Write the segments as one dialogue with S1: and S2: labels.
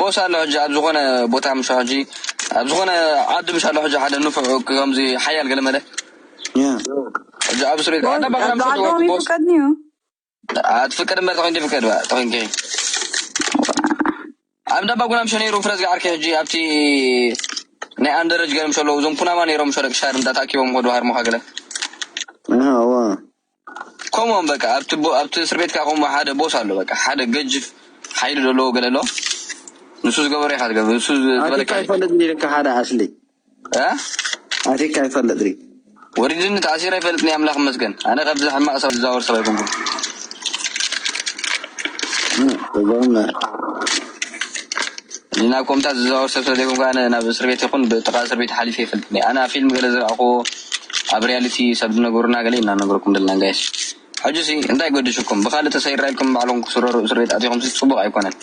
S1: ቦስ ኣሎ ሕጂ
S2: ኣብ ዝኾነ ቦታ ምሾ ሕጂ ኣብ ዝኾነ ዓዲ ምሽ ኣሎ ሕጂ ሓደ ንፉዕ ከምዚ ሓያል ገለመለ ሕጂ
S1: ኣብ
S2: እስር ቤት ኣዳ ባሕራ ምሽ ትወርድ
S3: ቦስ
S2: ኣትፍቀድ እምበር ተኺን ትፍቀድ ባ ተኺን ኪ ኣብ ዳባ ጉና ምሽ ነይሩ ፍረዝ ገዓርኪ ሕጂ ኣብቲ ናይ ኣንደረጅ ገለ ምሽ ኣለዉ እዞም ኩናማ ነይሮም ምሽ ደቂ ሻር እንዳ ተኣኪቦም ከዱ ሃርሞኻ ገለ ከምኦም በቃ ኣብቲ ቦ ኣብቲ እስር ቤት ከኣ ከምኡ ሓደ ቦስ ኣሎ በቃ ሓደ ገጅፍ ሓይሊ ደለዎ ገለ ኣሎ ንሱ ዝገበሮ ኢካ ትገብር ንሱ ዝ- ኣቲካ ዝበለካ ይፈልጥ ድዩ
S1: ልካ ሓደ ኣስሊ እ ኣቲካ ይፈልጥ ድዩ ወሪድኒ ተኣሲረ
S2: ኣይፈልጥን እየ ኣምላኽ ይመስገን ኣነ ካብዚ ሕማቕ ሰብ ዝዛወር ሰብ ኣይኮንኩን እዞም ናብ ኮምታት ዝዛወር ሰብ ስለዘይኮንኩ ኣነ ናብ እስር ቤት ይኹን ብጥቓ እስር ቤት ሓሊፈ ኣይፈልጥን እየ። ኣነ ኣብ ፊልም ገለ ዝረኣኹዎ ኣብ ሪያሊቲ ሰብ ዝነገሩና ገለ ኢና ነገርኩም ዘለና ጋይስ። ሕጂሲ እንታይ ገድሹኩም ብኻልእ ተሰይራ ኢልኩም ንባዕልኹም ክትስረሩ እስር ቤት ኣቲኹምሲ ጽቡቕ ኣይኮነን።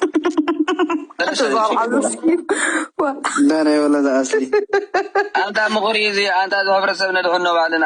S1: ኣንታ
S2: ምኽሪ እዚ ኣንታ እዚ ሕብረተሰብ ነድሕኖ ባዕልና።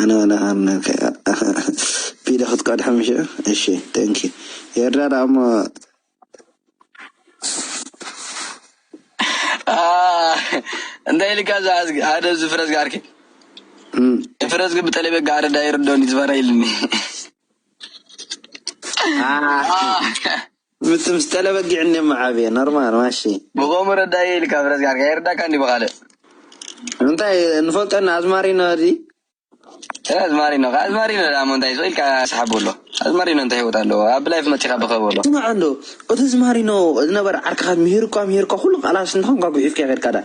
S1: ኣነ ዋላ ኣርነ ቢለ ክትቀድሖም እሺ እሺ ቴንክ ኤርትራ ደኣ እሞ
S2: እንታይ ኢልካ እዛ ኣዝጊ ሓደ እዚ ፍረዝጊ ዓርኪ ፍረዝጊ ብጠለቤጋ ኣረዳ ይርዶኒ ዝፈራ ኢልኒ
S1: ምት ምስ ጠለ በጊዕ እንዴ መዓብየ ኖርማል ማሺ። ብከምኡ ረዳኢየ
S2: ኢልካ ፍረስ ጋር ከይርዳካ እንዲዩ ብካልእ።
S1: እንታይ ንፈልጦ እና ኣዝማሪኖ ድዪ። እህ
S2: ኣዝማሪኖ ከ ኣዝማሪኖ ደኣሞ እንታይ ስቅ ኢልካ ስሓብ በሎ ኣዝማሪኖ እንታይ ሂወት ኣለዎ ኣብ ላይፍ መጺካ ብከ በሎ። ስማዕ እንዶ እቲ
S1: ኣዝማሪኖ ዝነበረ ዓርክካ ምሂሩካ ምሂሩካ ኩሉ ቃላትስ እንተ ኮንካ ጉሒፍካዮ ከድካ ደኣ።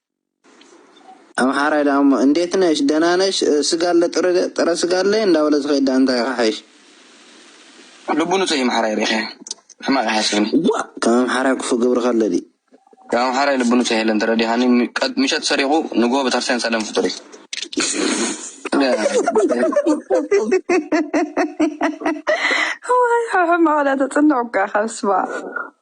S1: ኣምሓራይ ደኣ እሞ እንዴት ነሽ ደህና ነሽ ስጋ ኣለ ጥረ ስጋ ኣለ እንዳበለ ዝኸይድ ደኣ እንታይ ይኸሓይሽ።
S2: ልቡ ንጹህ እዩ ኣምሓራይ ሪኢኸ ሕማቅ ኣይሓስብን እዩ። ዋእ ከም ኣምሓራይ
S1: ክፉእ ግብሪ ከ ኣሎ ድዩ። ከም ኣምሓራይ
S2: ልቡ ንጹህ የለን ተረዲእኻኒ ምሸት ሰሪቁ ንግሆ በተክርስቲያን ሰለም ፍጡር እዩ።
S3: ሕማቅ እዳ ተጽንዕ እኳ ኢካ በስመኣብ።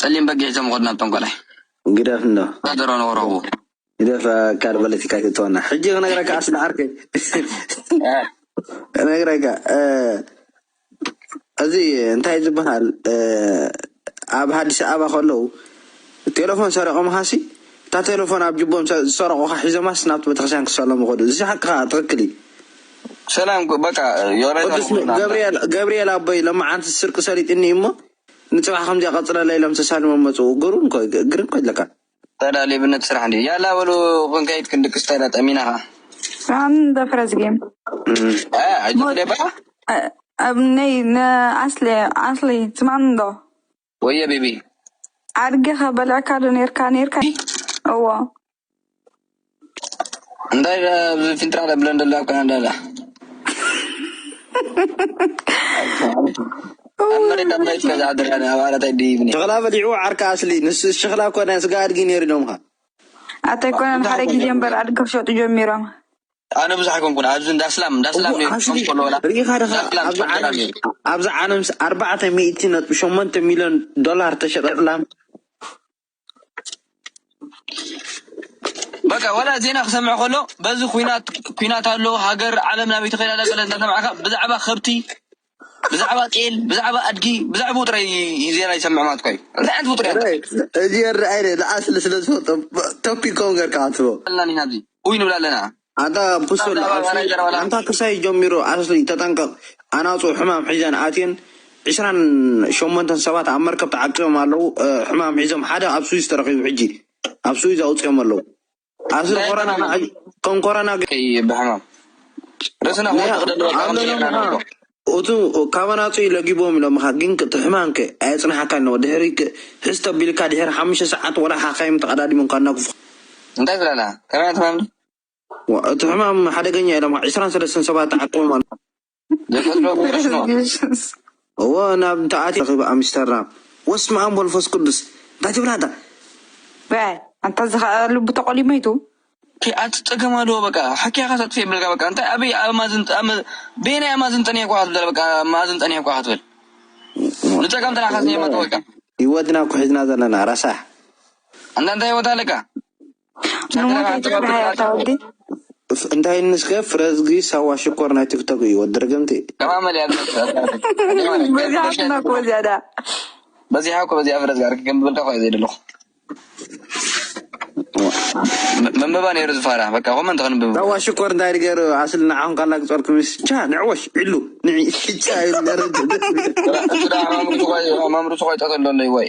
S2: ጸሊም በጊዕ ሒዞም ይኸዱ ናብ ጠንቋላይ። ግደፍ እንዶ
S1: ድሮ ንወረቡ።
S2: ግደፍ ኣካል
S1: ፖለቲካ ኣይትእትወና ሕጂ ክነግረካ ኣስሊ ዓርከይ ክነግረካ እዚ እንታይ ዝበሃል ኣብ ሃዲስ ኣበባ ከለዉ ቴለፎን ሰሪቆምኻሲ እታ ቴለፎን ኣብ ጅቦም ዝሰረቁኻ ሒዞማስ ናብቲ ቤተክርስትያን ክሰለሙ ከዱ እዚ ሓቅኻ ትኽክል እዩ ሰላም
S2: በቃ ዮናይ ቅዱስ ን ታንኩልና ገብርኤል
S1: ገብርኤል ኣቦይ ለማዓንቲ ስርቂ ሰሊጥኒ እዩ እሞ ንጽባሕ ከምዚኣ ቀጽለለይ ኢሎም ተሳሊሞም መጹ ግሩም እኮ እዩ ግርም እኮ ኣለካ ታዳ ሌብነት
S2: ስራሕ እንድዩ ያላ በሉ ክንከይድ ክንድቅስ ታዳ ጠሚና ከኣ Run the first game.
S3: እ
S2: ኣጆኺ ሞት ደባ እ-
S3: ኣብ ነይ ንኣስሊ ኣስሊ ትማንዶ ወየ ቤቢ
S2: ኣድጊ ከ
S3: በልዕካ ዶ ነርካ ነርካ እዎ እንታይ
S2: ኣብዚ ፊንጥራ ለብለን ደሎ ኣብ ካናዳ ዳ ኣብ መሬት ኣብ መሬት ከዝሓድር ኣነ ኣብ ዓራት ኣይድይብኒ ሽክላ በሊዑ ዓርካ
S1: ኣስሊ ንሱ ሽክላ ኮነ ስጋ ኣድጊ ነይሩ ኢሎምካ ኣታ ኣይኮነን
S3: ሓደ ግዜ እምበር ኣድጊ ክሸጡ ጀሚሮም ኣነ ብዙሕ
S2: ኣይኮንኩን ኣብዚ እንዳ ስላም እንዳ ስላም እሞ ነይሩ
S1: ኣስሊ ከምኮሎ ወላ ርኢኻ እንዳ ድኻ ስላም ኣብዚ ጽቡቅ ገራ ዓለም ነይሩ ኣብዚ ዓለምስ ኣርባዕተ ሚእቲ ነጥቢ ሸሞንተ ሚልዮን ዶላር ተሸጠ ስላም
S2: በቃ ወላ ዜና ክሰምዕ ከሎ በዚ ኩናት ኩናት ኣሎ ሃገር ዓለም ናበይ ትኸይድ ኣላ ገለ እናሰማዕካ ብዛዕባ ከብቲ ብዛዕባ ጤል ብዛዕባ ኣድጊ ብዛዕብኡ ጥራይ እዩ ዜና ይሰምዕ ማለት እኳ እዩ እንታይ ዓይነት ፍጡር እያ ራይት
S1: እዚ የረኣይ ረ ንኣስሊ ስለ ዝፈልጦ ቶፒክ ከምኡ ጌርካ ኣትቦ ኣልና ኒና ኣብዚ ኡይ
S2: ንብል ኣለና ኣታ ብሱል ብዛዕባ
S1: ኣስሊ ናይ ዘረባ ላም ኣንታ ክሳይ ጀሚሩ ኣስሊ ተጠንቀቅ ኣናጹ ሕማም ሒዘን ኣትየን ዕስራን ሸሞንተን ሰባት ኣብ መርከብ ተዓቂቦም ኣለዉ እ፣ ሕማም ሒዞም ሓደ ኣብ ስዊዝ ተረኪቡ ሕጂ ኣብ ስዊዝ ኣውጺኦም ኣለዉ ኣብዚ ኮረና ናዕሊ ከም ኮረና
S2: ብሕማም ርእስና እቱ
S1: ካባና ውፅኢ ለጊቦም ኢሎምኻ ግን ትሕማንከ ኣየፅናሓካ ኣለዎ ድሕሪ ሕዝ ተቢልካ ድሕሪ ሓሙሽተ ሰዓት ወላ ሓካይም ተቐዳዲሞም ካናግፉ እንታይ ዝላላ
S2: ከመይ ትማም እቲ
S1: ሕማም ሓደገኛ ኢሎም ዕስራን ሰለስተን ሰባት ተዓቆቦም ኣሎ ዘፈጥሮ ብመስኖ Jesus. እዎ ናብ እንተኣትዩ ረኺብ ኣምስተርዳም ወስምኣም ወልፎስ ቅዱስ እንታይ ትብል ኣንታ በ
S3: ኣንታ እዚ ከኣ ልቡ ተቆሊሙ እዩ ቱ። ኪ ኣቲ
S2: ጸገም ኣልዎ በቃ ሓኪያ ካስ ኣጥፊ የብልካ በቃ እንታይ ኣበይ ኣብ ማዝን ኣብ በየናይ ኣብ ማዝን ጠኒሕኳ ክትብላ በቃ ማዝን ጠኒሕኳ ክትብል ንጸገም ጥራሕ ካስ የመጡ በቃ ህይወትና እኮ ሒዝና
S1: ዘለና ረሳሕ ኣንታ እንታይ
S2: ህይወት ኣለካ ንምንታይ ትፍርሃያ
S1: እታ ወዲ? እንታይ እንስከ ፍረዝጊ ሳዋ ሽኮር ናይ ቲክቶክ እዩ ወዲ ርግምቲ። በዚሓትና
S2: እኮ
S3: እዚኣ ደኣ። በዚሓ
S2: እኮ በዚኣ ፍረዝጊ ዓርኪ ከምዝበልካ እኮ እየ ዘይደለኹ። መንበባ ነይሩ ዝፋራ በቃ ኮመንት ክንብብ። ሳዋ ሽኮር እንታይ ድገሩ
S1: ኣስሊ ንዓኹም ካላ ግጾርኩምስ ቻ ንዕወሽ ዕሉ ንዒ ቻ እዩ ነረድ። ኣማምርቱ
S2: ቆይ ጠተሎ ኣለይ ወይ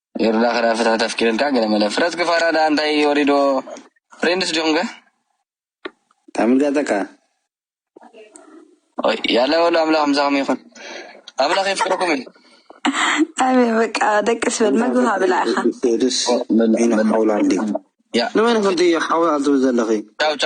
S2: የሩዳ ክዳ ፍትሕት ኣፍቂረልካ ገለ መለ ፍረ ጽጊ ፋራ ድኣ እንታይ ወሪድዎ ፍሬንድስ ዲኹም ከ
S1: ታምልጋጠካ
S2: ኦይ ያላ ወሉ ኣምላኽ ምሳኹም ይኹን ኣምላኽ የፍቅረኩም እዩ ኣሜን
S3: በቃ ደቂ ስበል መግብኻ ብላ
S1: ኢኻ
S2: ያ
S3: ንመን
S1: ኮንቲ ሓዊ ኣትብ ዘለኺ ቻው ቻው